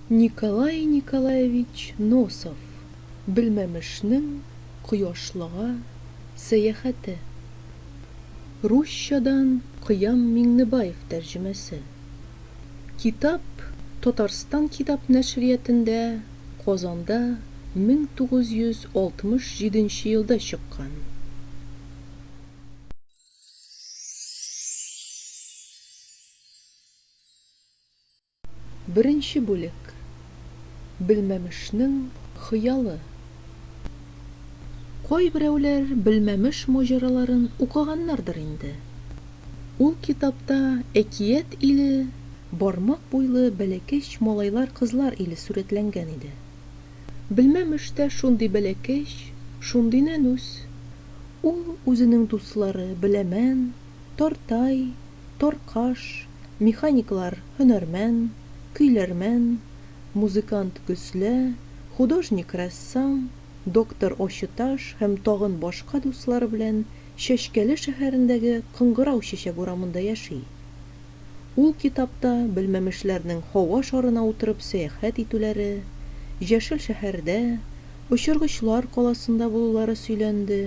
Николай Николаевич Носов Белмәмешнең кояшлыга сәяхәте Русчадан Кыям Миңнебаев тәрҗемәсе Китап Татарстан китап нәшриятендә Казанда 1967 елда чыккан. Беренче бүлек. Белмәмешнең хыялы. Кайберәүләр Белмәмеш маҗараларын укыганнардыр инде. Ул китапта әкият иле, бармак буйлы бәләкәч малайлар-кызлар иле сурәтләнгән иде. Белмәмеш тә шундый бәләкәч, шундый нәнүс. Ул үзенең дуслары Беләмән, Тартай, Таркаш, механиклар Һөнәрмән, Көйләрмән, музыкант Гөслә, художник-рәссам, доктор Очыташ һәм тагын башка дуслары белән Чәчкәле шәһәрендәге Кыңгырау чәчәк урамында яши. Ул китапта белмәмешләрнең һава шарына утырып сәяхәт итүләре, Җәшел шәһәрдә, Очыргычлар каласында булулары сөйләнде.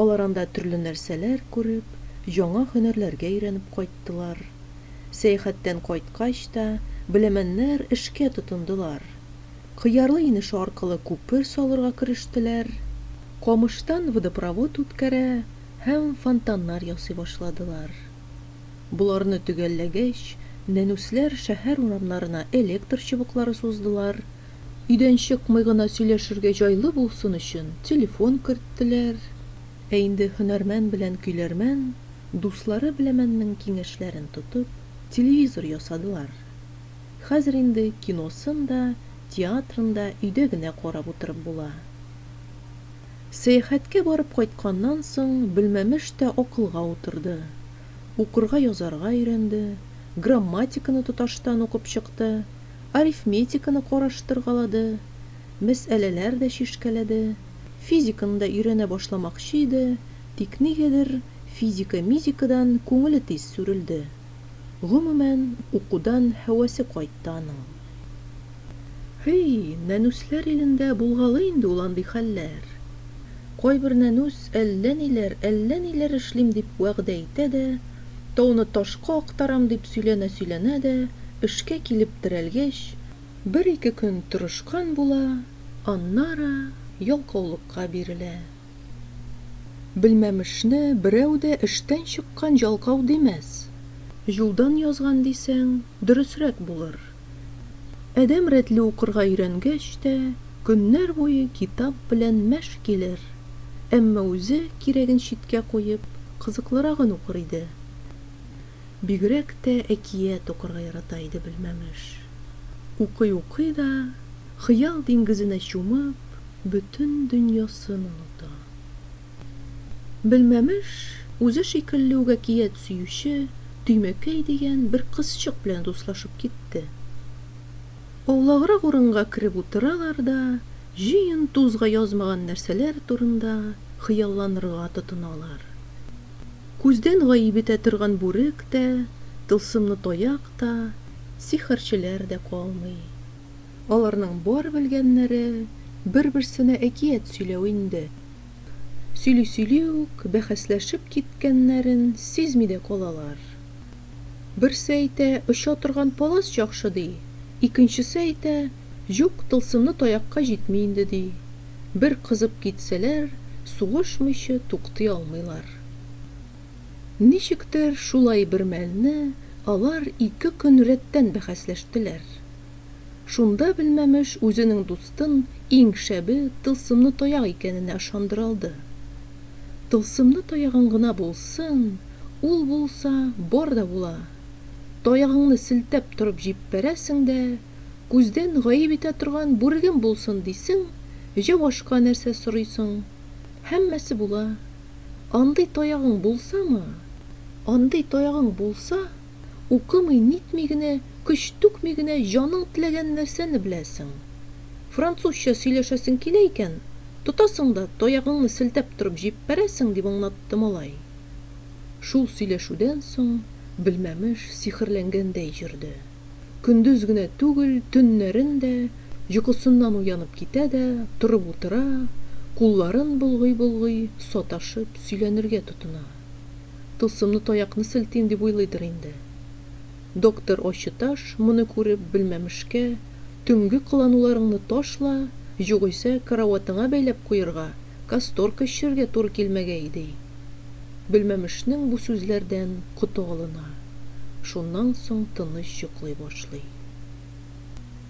Алар анда төрле нәрсәләр күреп, яңа һөнәрләргә өйрәнеп кайттылар. Сәяхәттән кайткач та, беләмәннәр эшкә тотындылар. Кыярлы инеше аркылы күпер салырга керештеләр. Камыштан водопровод үткәрә һәм фонтаннар ясый башладылар. Боларны төгәлләгәч, нәнүсләр шәһәр урамнарына электр чыбыклары суздылар, өйдән чыкмый гына сөйләшергә җайлы булсын өчен телефон керттеләр. Ә инде һөнәрмән белән көйләрмән, дуслары беләмәннең киңәшләрен тотып, телевизор ясадылар. Хәзер инде киносын да, театрын да өйдә генә карап утырып була. Сәяхәткә барып кайтканнан соң Белмәмеш тә акылга утырды. Укырга язарга өйрәнде, грамматиканы тоташтан укып чыкты, арифметиканы караштыргалады, мәсьәләләр дә чишкәләде. Физиканы да өйрәнә башламакчы иде, тик нигәдер физика-мизикадан күңеле тиз сүрелде. Гомумән, укудан һәвәсе кайтты аның. Һи, нәнүсләр илендә булгалый инде ул андый хәлләр. Кайбер нәнүс әллә ниләр, әллә ниләр эшлим дип вәгъдә итә дә, тауны ташка актарам дип сөйләнә-сөйләнә дә, эшкә килеп терәлгәч, бер-ике көн тырышкан була, аннары ялкаулыкка бирелә. Белмәмешне берәү дә эштән чыккан җалкау димәс. Юлдан язган дисәң, дөресрәк булыр. Адәм рәтле укырга өйрәнгәч тә, көннәр буе китап белән мәш килер. Әмма үзе кирәген читкә куеп, кызыклырагын укыр иде. Бигрәк тә әкият укырга ярата иде Белмәмеш. Укый-укый да, хыял диңгезенә чумып, бөтен дөньясын оныта. Белмәмеш, үзе шикелле үк әкият сөюче Төймәкәй дигән бер кызчык белән дуслашып китте. Аулаграк урынга кереп утыралар да, җыен-тузга язмаган нәрсәләр турында хыялланырга тотыналар. Күздән гаип итә торган бүрек тә, тылсымлы таяк та, сихерчеләр дә калмый. Аларның бар белгәннәре, бер-берсенә әкият сөйләү инде. Сөйли-сөйли үк, бәхәсләшеп киткәннәрен сизми дә калалар. Берсе әйтә, оча торган палас яхшы, ди, икенчесе әйтә, юк, тылсымлы таякка җитми инде, ди. Бер кызып китсәләр, сугышмыйчы туктый алмыйлар. Ничектер шулай бермәлне алар ике көн рәттән бәхәсләштеләр. Шунда Белмәмеш үзенең дустын иң шәбе тылсымны таяк икәненә ышандыра алды. Тылсымны таягың гына булсын, ул булса, бар да була. Таягыңны селтәп торып җиппәрәсең дә, күздән гаеп итә торган бүрегем булсын дисең, җавашка нәрсә сорыйсың. Һәммәсе була. Андый таягың булсамы, андый таягың булса, укымый-нитми генә, көч түкми генә җаның теләгән нәрсәне беләсең. Французча сөйләшәсең килә икән, тотасың да таягыңны селтәп торып җиппәрәсең, дип аңлатты малай. Шул сөйләшүдән соң Белмәмеш сихерләнгәндәй йөрде. Көндез генә түгел, төннәрен дә, йокысыннан уянып китә дә, торып утыра, кулларын болгый-болгый, саташып, сөйләнергә тотына. Тылсымны таякны селтим дип уйлыйдыр инде. Доктор Ачыташ, моны күреп, белмәмешкә, Төнге кылануларыңны ташла, югыйсә, караватыңа бәйләп куерга, Касторка эчерергә туры килмәгәе ди. Гөлмәмешнең бу сүзләрдән коты алына, шуннан соң тыныч йоклый башлый.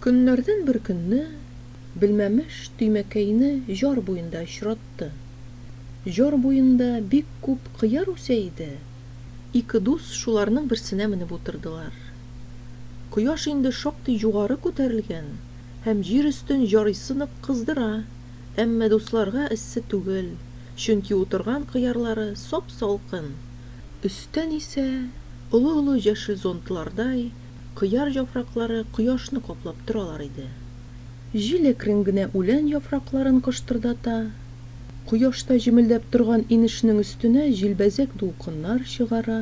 Көннәрдән бер көнне Белмәмеш Төймәкәйне җар буенда очратты. Җар буенда бик күп кыяр үсә иде. Ике дус шуларның берсенә менеп утырдылар. Кояш инде шактый югары күтәрелгән һәм җир өстен җарыйсы нык кыздыра, Әмма дусларга эссе түгел, чөнки утырган кыярлары сап-салкын. Өстән исә, олы-олы җәшел зонтлардай, кыяр җафраклары кояшны каплап торалар иде. Җил әкрен генә үлән яфракларын кыштырдата, кояшта җемелдәп торган инешнең өстенә җилбәзәк дулкыннар чыгара.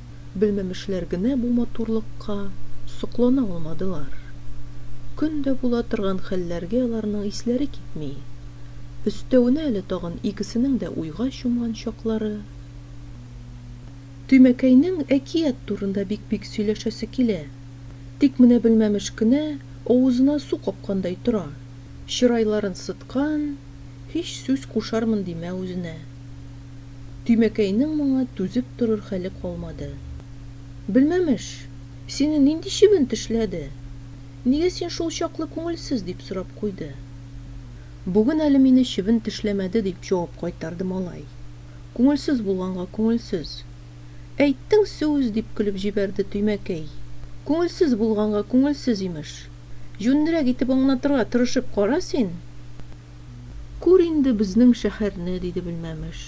белмәмешләр генә бу матурлыкка соклана алмадылар. Көн дә була торган хәлләргә аларның исләре китми. Өстәвенә әле тагын икесенең дә уйга чумган чаклары. Төймәкәйнең әкият турында бик-бик сөйләшәсе килә. Тик менә белмәмеш кенә авызына су капкандай тора, чырайларын сыткан, һич сүз кушармын димә үзенә. Тимәкәйнең моңа түзеп торыр хәле калмады. Белмәм эш, сине нинди чебен тешләде? Нигә син шул чаклы күңелсез? дип сорап куйды. Бүген әле мине чебен тешләмәде, дип җавап кайтарды малай. Күңелсез булганга күңелсез. Әйттең сүз, дип көлеп җибәрде Тимәкәй. Күңелсез булганга күңелсез, имеш. Җүннерәк итеп аңлатырга тырышып кара син. Күр инде безнең шәһәрне, диде Белмәмеш.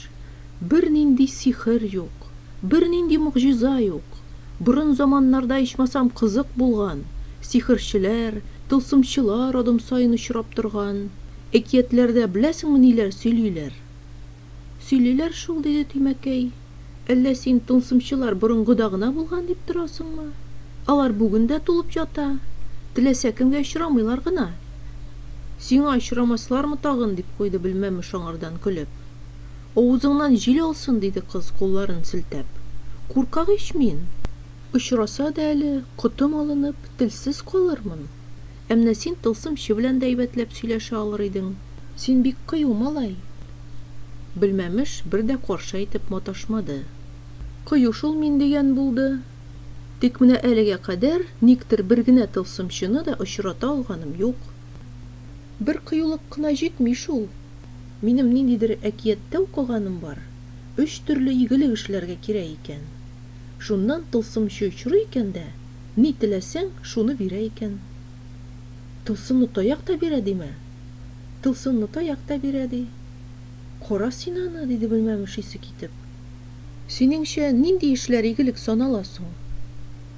Бернинди сихер юк, бернинди могҗиза юк. Борын заманнарда ичмасам кызык булган, сихерчеләр, тылсымчылар адым саен очрап торган. Әкиятләрдә беләсеңме ниләр сөйлиләр? Сөйлиләр шул, диде Тимәкәй. Әллә син тылсымчылар борынгыда гына булган дип торасыңмы? Алар бүген дә тулып ята. Теләсә кемгә очрамыйлар гына. Сиңа очрамаслармы тагын? дип куйды Белмәмеш аңардан көлеп. Авызыңнан җил алсын, диде кыз, кулларын селтәп. Куркак ич мин! Очраса да әле, котым алынып, телсез калырмын. Ә менә син тылсымчы белән дә әйбәтләп сөйләшә алыр идең. Син бик кыю малай. Белмәмеш бер дә каршы әйтеп маташмады. Кыю шул мин дигән булды. Тик менә әлегә кадәр никтер бер генә тылсымчыны да очрата алганым юк. Бер кыюлык кына җитми шул. Минем ниндидер әкияттә укыганым бар, өч төрле игелек эшләргә кирәк икән. Шуннан тылсымчы очрый икән дә, Ни теләсәң, шуны бирә икән. Тылсымлы таяк та бирә димә. Тылсымлы таяк та бирә, ди. Кара син аны, диде белмәмеш исе китеп. Синеңчә, нинди эшләр игелек санала соң?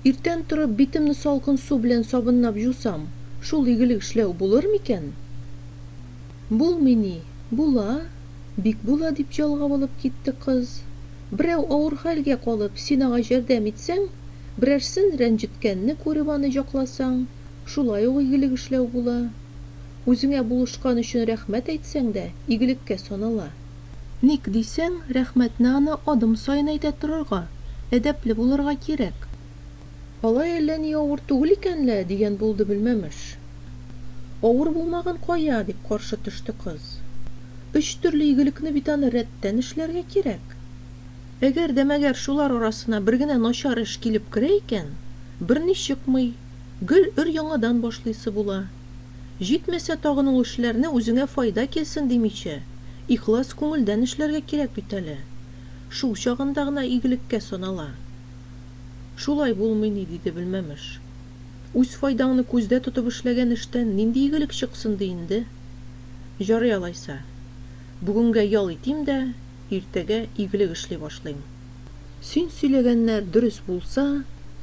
Иртән торып, битемне салкын су белән сабынлап җусам, шул игелек эшләү булыр микән? Булмый ни, була, бик була, дип җал-гап алып китте кыз. Берәү авыр хәлгә калып, син аңа җәрдәм итсәң, берәрсен рәнҗеткәнне күреп аны җакласаң, шулай ук игелек эшләү була. Үзеңә булышкан өчен рәхмәт әйтсәң дә, игелеккә санала. Ник дисәң, рәхмәтне аны адым саен әйтә торырга, әдәпле булырга кирәк. Алай әллә ни авыр түгел икән лә, дигән булды Белмәмеш. Авыр булмаган кая, дип каршы төште кыз. Өч төрле игелекне бит аны рәттән эшләргә кирәк. Әгәр дә мәгәр шулар арасына бер генә начар эш килеп керә икән, берни чыкмый, гел өр-яңадан башлыйсы була. Җитмәсә тагын ул эшләрне үзеңә файда килсен димичә, ихлас күңелдән эшләргә кирәк бит әле. Шул чагында гына игелеккә санала. Шулай булмый ни, диде Белмәмеш. Үз файдаңны күздә тотып эшләгән эштән нинди игелек чыксын ди инде? Җарый алайса. Бүгенгә ял итим дә, иртәгә игелек эшли башлыйм. Син сөйләгәннәр дөрес булса,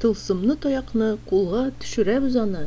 тылсымны таякны кулга төшерәбез аны!